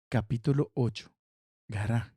Capítulo ocho, Gará.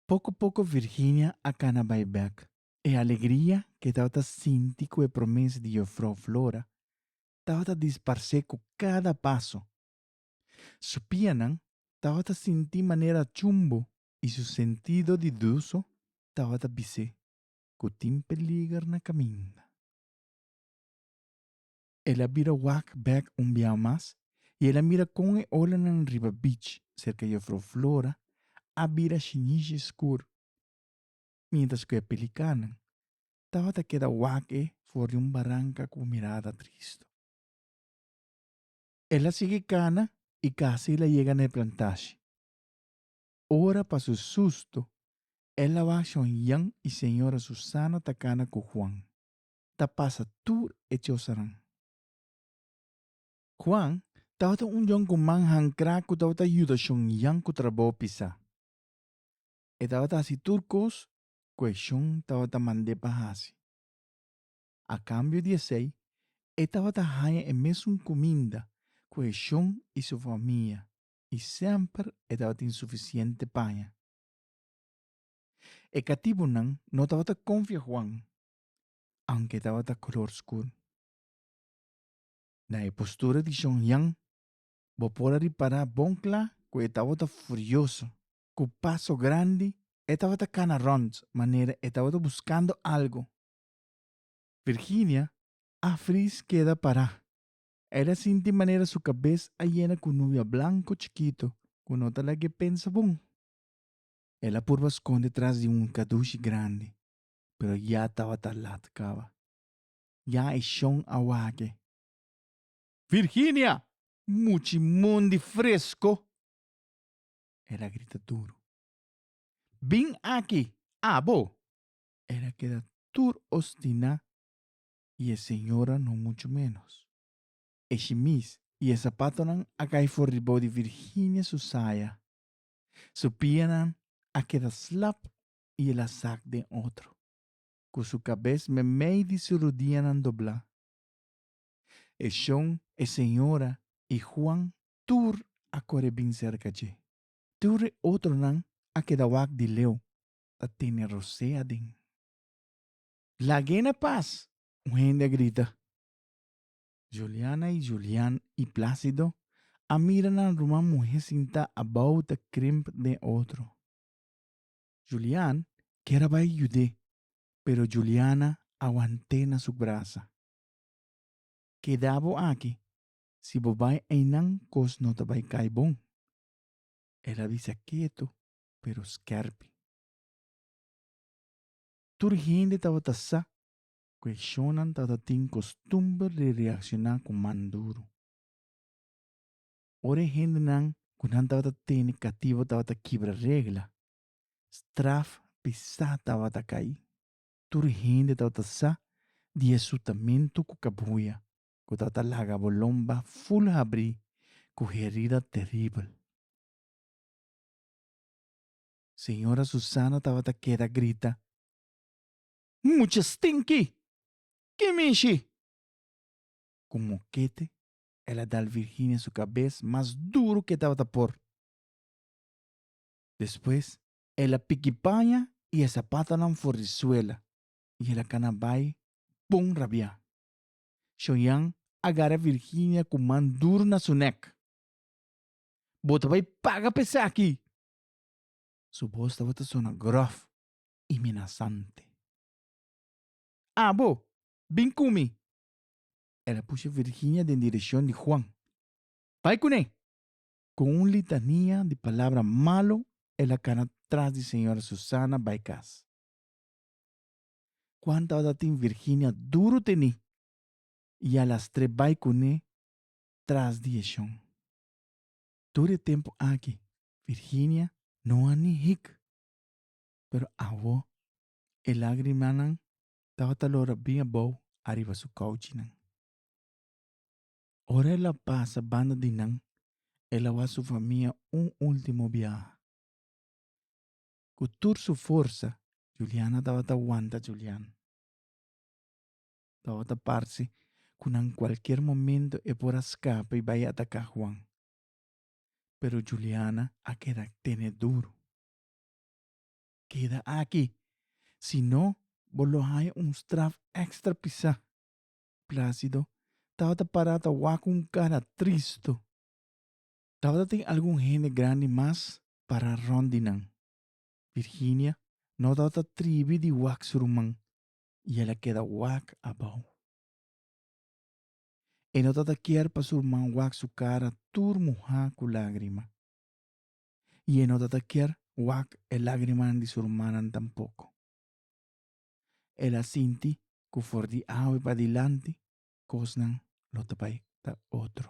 Poco poco Virginia a cana bai bek. E alegria ke tabata sinti ku e promes di Jofrou Flora tabata disparsé ku kada paso. Su pianan tabata sinti manera chumbo i su sentido di duso tabata bis'é ku tin peliger na kaminda. El a bira wak bek un biaha mas i el a mira kon e olanan riba beach serka Jufrou Flora a bira shinishi skur, mientras ku e pelikanan tabata keda wak e for di un baranka ku mirada tristu. El a sigui kana i kasi el a yega na e plantashi. Ora pa su susto el a waksha un yan i señora Susana ta kana ku Juan. ta pasa tur e chosanan. Juan tabata un djon ku man hankrá ku tabata yuda shon yan ku trabou pisá. E tabata hasi tur kos ku e shon tabata mand'é pa hasi. A kambio di esei, e tabata haña e mesun kuminda ku e shon i su famia i semper e tabatin sufisiente paña. E katibunan no tabata konfia Juan aunke tabata color scur. Na e postura di Shon Yan bo por a ripara bon cla cu e tabata furioso. Cu paso grandi e tabata cana rond manera e tabata buscando algo. Virginia a fris keda para. El a sinti manera su cabes a yena cu nubia blanco chikito cu no ta lag'e pensa bon. El a purba sconde tras di un cadushi grandi. pero ya tabata lat caba. Ya e shon a wake. Virginia! Muchi mon di fresco! El a grita duru. Bin aki, abo! El a keda tur ostiná y e señora no mucho menos. E shimis y e zapatonan a cay for ribao di Virginia su saya. Su pianan a keda slap i el a sak den otro, ku su kabes meimei di su rudianan doblá. E shon, e señora i Juan tur a kore bin serka dje. Tur e otronan a keda wak di leu ta tene rosé aden. Lag'é na pas! un hende a grita. Juliana i Julian i Plácido a mira nan ruman muhé sintá abou ta krimp den otro. Julian kier a bai yud'é, pero Juliana a want'é na su brasa. Keda bo aki, si bo bai einan kos no ta bai kai bon, el a bisa ketu pero skèrpi. Tur hende tabata sa ku e shonnan tabata tin kostumber di reakshoná ku man duru. Ora e hendenan ku nan tabata tene kativo tabata kibra regla, straf pesá tabata kai. Tur hende tabata sa di e sutamentu ku kabuya ku tabata laga bolomba ful habrí ku herida teribel. Señora Susana tabata keda grita, Mucha stinki! Ke mishi! Ku mokete el a dal Virginia su cabes mas duro cu e tabata por. Despues el a piki paña y e zapatonan for di suela y el a cana bay bon rabia. Shoyan a gara Virginia cu man duro na su nek. Bo ta bay paga pa esaki! Su bos tabata sona grof y menasante. Abo, bin cu mi! El a pusha Virginia den direcion di Juan. Bai cu ne! Cu un litania di palabra malo el a cana tras di señora Susana bai cas. Cuanta ora tin Virginia duro teni y a lastre bai cu ne tras di e shon. Tur e tempo aki Virginia no a ni hik. Pero awo e lagrimanan tabata lora bien abou ariba su kouchinan. Ora el a pasa banda di nan, el a wak su famia un último biaha. Ku tur su forsa, Juliana tabata wanta Julian. Tabata parse ku na kualkier momento e por a skapa i bai ataká Juan. Pero Juliana a keda tene duru. keda aki, si no bo lo haya un straf extra pisá. Plácido tabata pará ta wak un cara tristu. Tabata tin algun hende grandi mas pará rònt di nan. Virginia no tabata tribi di wak su ruman i el a keda wak abou. E no tabata kier pa su ruman wak su cara tur muhá ku lágrima. i e no ta ta kier wak e lágrimanan di su rumannan tampoko. El a sinti ku for di awe padilanti kosnan lo ta bai ta otro.